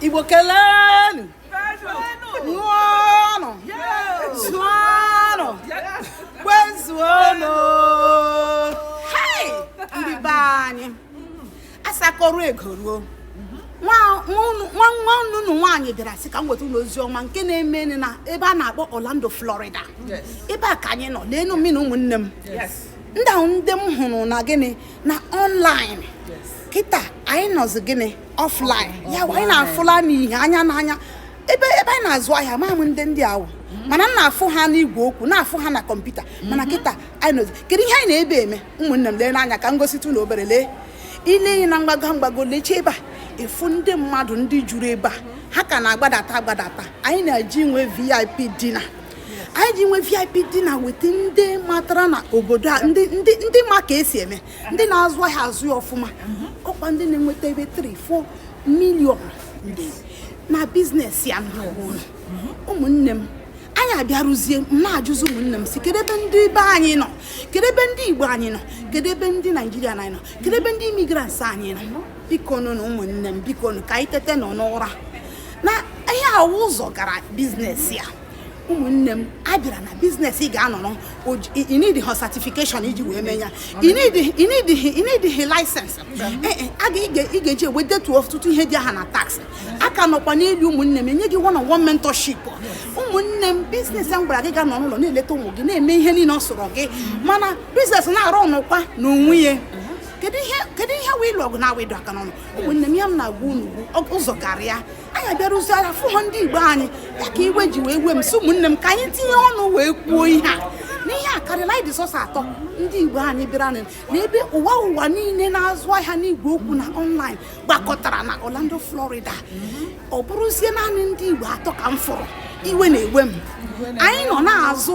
igbo kelenu ṅụọnụ zụọnụ kwezuonụ ndị be anyị asakọrọ ego ruo nwanne unu nwaanyị bịara sị ka m weta unu ozi ọma nke na-eme na ebe a na-akpọ Orlando Florida ebe a ka anyị nọ n'enu mmiri ụmụnne m ndị ahụ ndị m hụrụ na gịnị na online kịta anyị nọzi gịnị offline ya wụ anyị na-afụla n'ihe anya n'anya ebe ebe anyị na-azụ ahịa ama m ndị ndị a wụ mana m na-afụ ha n'igwe okwu na-afụ ha na kọmputa mana mhm. kịta anyị nọzi kedu ihe anyị nọ ebe a eme ụmụnne m leenụ anya ka m gositụ unu obere lee ile ihe na mgbago mgbago leche ebe a ị fụ ndị mmadụ ndị juru ebe a ha ka na-agbadata agbadata anyị na-eje inwe vip dinner anyị ji nwe vip dinner weta ndị matara na obodo a ndị ndị ndị ma ka esi eme ndị na-azụ ahịa azụ ya ọfụma ọkwa ndị na-enweta ebe 3 4 million na business ya na ụmụnne m anyị abịarụzie m na-ajụzi ụmụnne m sị kedu ebe ndị be anyị nọ kedu ebe ndị igbo anyị nọ kedu ebe ndị naijiria anyị nọ kedu ebe ndị immigrants anyị nọ biko nụ ụmụnne m biko nụ ka anyị teta nụ n'ụra na ihe a wụ ụzọ gara business a ụmụnne m a bịara na business ị ga-anọrọ ị needihọ certification iji wee mee ya ị needihị license ị ga-eji wedetuo ọtụtụ ihe dị aha na tax aka nọkwa n'elu ụmụnne m enye gị one on one mentorship ụmụnne m business m gwara gị ị ga-anọ n'ụlọ na-eleta ụmụ gị na-eme ihe niile ọ sọrọ gị mana business na-arunkwa n'onwe ya kedu ihe wụ ịlụ ọgụ na-awụ ịdọ aka n'ọnụ ụmụnne m ya m na-agwa unu ụzọ gara anyị abịarụzi afụhọ ndị igbo anyị ya ka iwe ji wee wee m sị ụmụnne m ka anyị tinye ọnụ wee kwuo ihe a na ihe a karịrị anyị dị sọsọ atọ ndị igbo anyị bịara na ebe ụwa ụwa niile na-azụ ahịa n'igwe okwu na online gbakọtara na Orlando Florida ọ bụrụzie naanị ndị igbo atọ ka m fụrụ iwe na-ewe m anyị nọ na-azụ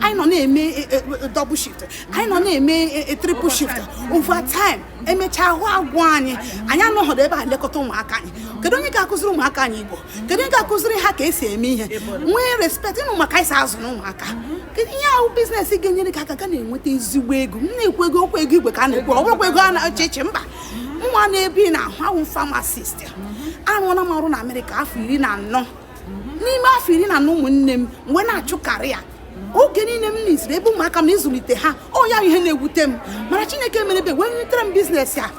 anyị nọ na-eme e, e, e, double shift anyị nọ na-eme triple shift overtime emechaa ahụ agwụ anyị anyị anọghọdụ ebe a lekọta ụmụaka anyị kedu onye ga-akụziri ụmụaka anyị igbo kedu onye ga-akụziri ha ka esi eme ihe nwee respect ịnụ maka anyị si azụ na ụmụaka kedu ihe a wụ business ga-enyere gị aka ị ga na-enweta ezigbo ego m na-ekwu ego ọkwa ego igwe ka a na-ekwu ọ bụrọkwa ego a na-eche eche mba mwa nọ ebe a na-ahụ awụ m pharmacist arụọla m ọrụ na amerịka afọ iri na anọ n'ime afọ iri na anọ ụmụnne m m wee na-achụ career oge niile m na-esiri ebe ụmụaka m nọ ịzụlite ha ọ ya ihe na-ewute m mana chineke mere ebere wee wetere m business a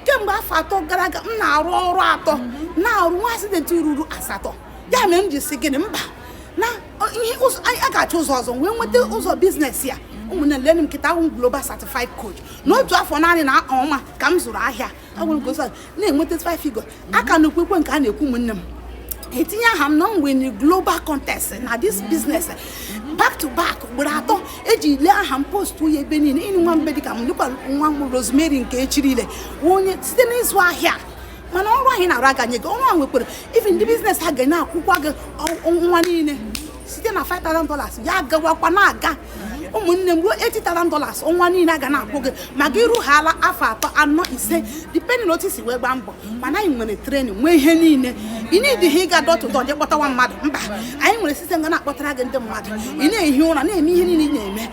kemgbe afọ atọ gara aga m na-arụ ọrụ atọ na-arụ nwee accident ruru asatọ ya mere m ji sị gịnị mba na ihe a ga-achọ ụzọ ọzọ wee nweta ụzọ business a ụmụnne leenụ m kịta awụ m global certified coach n'otu afọ naanị na ọnwa ka m zụrụ ahịa agwụrụ ka ụsa na-enweta five figure aka na okwukwe nke a na-ekwu ụmụnne m etinye aha m na m win global contest na this business back to back ugboro atọ eji lee aha m post ya ebe niile ịnụ nwa mbe dịka m dịkwa nwa m rosemary nke echiri ile onye site n'ịzụ ahịa mana ọrụ anyị na-arụ a ga-enye gị ọrụ e nwekwara even ndị biznes a ga na-akwụkwa gị ọnwa niile site na 5,000 dollars ya gawakwa na-aga ụmụnne m ruo 80,000 dollars ọnwa niile aga na-akwụ gị ma gị rụghala afọ atọ anọ ise depending na otu i si wee gbaa mbọ mana anyị nwere trenin nwee ihe niile ị needighị ịga door to door jee kpọtawa mmadụ mba anyị nwere sistem ga na-akpọtara gị ndị mmadụ ị na-ehi ụra na-eme ihe niile ị na-eme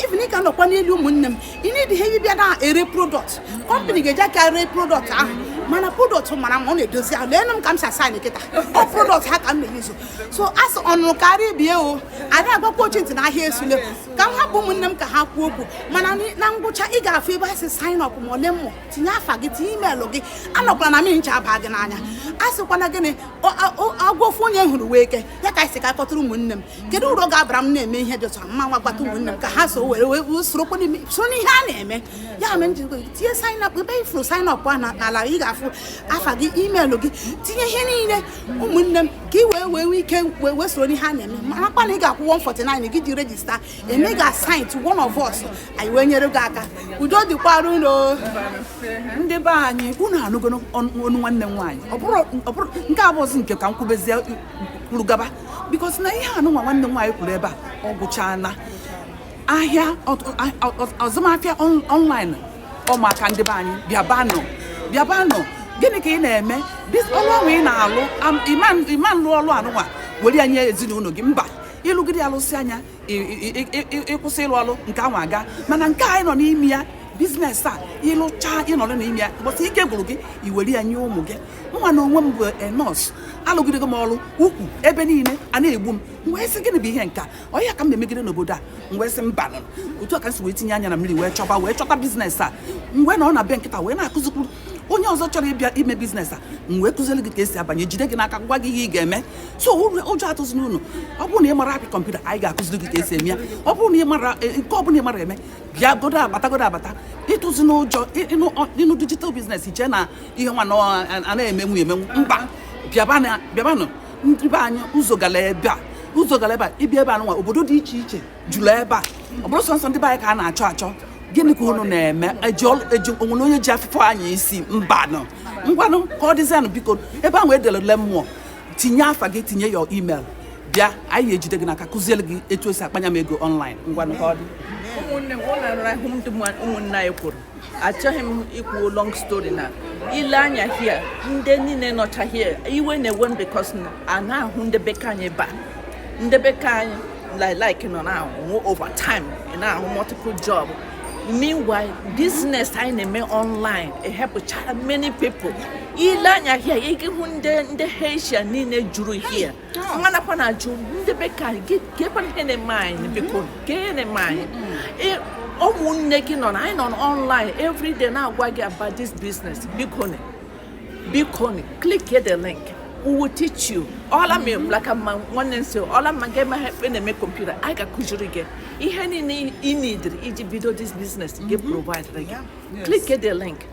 even ị ga nọkwa n'ọrụ ụmụnne m ị needighị ịbịa na-ere prodọkt kọmpanị ga-eji aka ree prodọkt ahụ mana prodọkt mara mma ọ na-edozi ahụ leenụ m ka m si ashaịn kịta ọ prodọkt ha ka m na-eyuzu so a sị ọ nụrụ kara ibe ya o ada agwakwa ochi ntị na ahịa esule ka m hapụ ụmụnne m ka ha kwuo okwu mana na ngwụcha ị ga-afụ ebe asị sign up ma ọ learn more tinye afa gị tinye imeelụ gị anọkwala na mmiri ncha aba gị n'anya a sịkwa na gịnị agwọ ofu onye hụrụ wụ eke ya ka m sị ka m kpọtụrụ ụmụnne m kedu uru ọ ga-abara m na-eme ihe dị otu mma nwa gbata ụmụnne m ka ha so were wee sorokwa n'ime so n'ihe a na-eme ya mere m ji tinye sign up ebe ị fụrụ sign up a n'ala ị ga-afụ afa gị imeelụ gị tinye ihe niile ụmụnne m ka ị wee wee nwee ike wee wee soro n'ihe a na-eme marakwa na ị ga-akwụ 149 gị ji rejista eme ga assign to one of us anyị wee nyere gị aka udo dịkwara unu ndị be anyị unu anụgo ọnụ nwanne m nwaanyị ọ bụrọ nke a bụzi nke ka m kwubezie kwuru gaba because na ihe anụnwa nwanne m nwaanyị kwuru ebe a ọ gwụchaala ahịa azụmahịa ọnlaịn ọ maka ndị be anyị bịabanụ bịabanụ gịnị ka ị na-eme ọrụ ahụ ị na-alụ ị ma-alụ ọrụ anụnwa were ya nye ezinụlọ gị mba ịlụgide ya lụsịa nya ịkwụsị ịlụ ọrụ nke ahụ agaa mana nke anyị nọ n'ime ya biznes a ịlụcha ịnọrọ n'ime ya mbọsị ike gwụrụ gị iwere ya nye ụmụ gị mụnwa na onwe m bụ nọọsụ alụgidego m ọrụ ukwu ebe niile a na-egbu m wee sị gịnị bụ ihe nka ọ ya ka m na-emegide n'obodo a m wee sị mba otu a ka m si wee tinye anya na mmiri wee chọba wee chọta biznes a m wee nọ n'ebe a kịta wee na-akụzikwuru onye ọzọ chọrọ ịbịa ime biznes a m wee kụziere gị ka esi abanye jide gị n'aka gwa gị ihe ị ga-eme so ụjọ atụzina unu ọ bụrụ na ị marọ apị kọmputa anyị ga-akụziri gị ka esi eme ya ọ bụrụ na ị marọ e, nke ọ bụla ị marọ eme bịa godo abata godo abata atụzina ụjọ ịnụ dijital biznes i chee na ihe nwa na-emenwu emenwu mba bịabanụ ndị be anyị ụzọ gara ebe a ụzọ gara ebe a ịbịa ebe a nwa obodo dị iche iche juru ebe a ọ bụrọ sọọsọ ndị be anyị ka a na-achọ achọ gịnị ka unu na-eme o nwere onye ji afụfụ anya isi mbanụ ngwanụ ka ọ dịzianụ biko ebe ahụ edere learn more tinye afa gị tinye your email bịa anyị ga-ejide gị n'aka kụziere gị etu esi akpanya m ego ọnlaịn ngwanụ ka ọ dị ụmụnne m ụlọ ụmụnne anyị kwuru achọghị m ikwu long story na i lee anya here ndị niile nọcha here iwe na-ewe m because na a na-ahụ ndị be ka anyị ebe a ndị be ka anyị like nọ na-ahụ overtime ị na-ahụ multiple job meanwhile business anyị na-eme online ehelpụchara many people i lee anya here ị ga-ahụ ndị ndị Asia niile juru here mụwa nọkwa na-ajụ ndị be ka anyị keekwanụ ihe na-eme anyị biko kee ihe na-eme anyị Ị- ụmụnne gị nọ na anyị nọ online everyday na-agwa gị about this business biko nị. biko nị, click here the link we will teach you ọla ma blaka ma nwanne nso ọla ma gị ma ekpe na-eme computer anyị ga-akụziri gị ihe niile ị needịrị iji bido this business ga-eprovide gị click here the link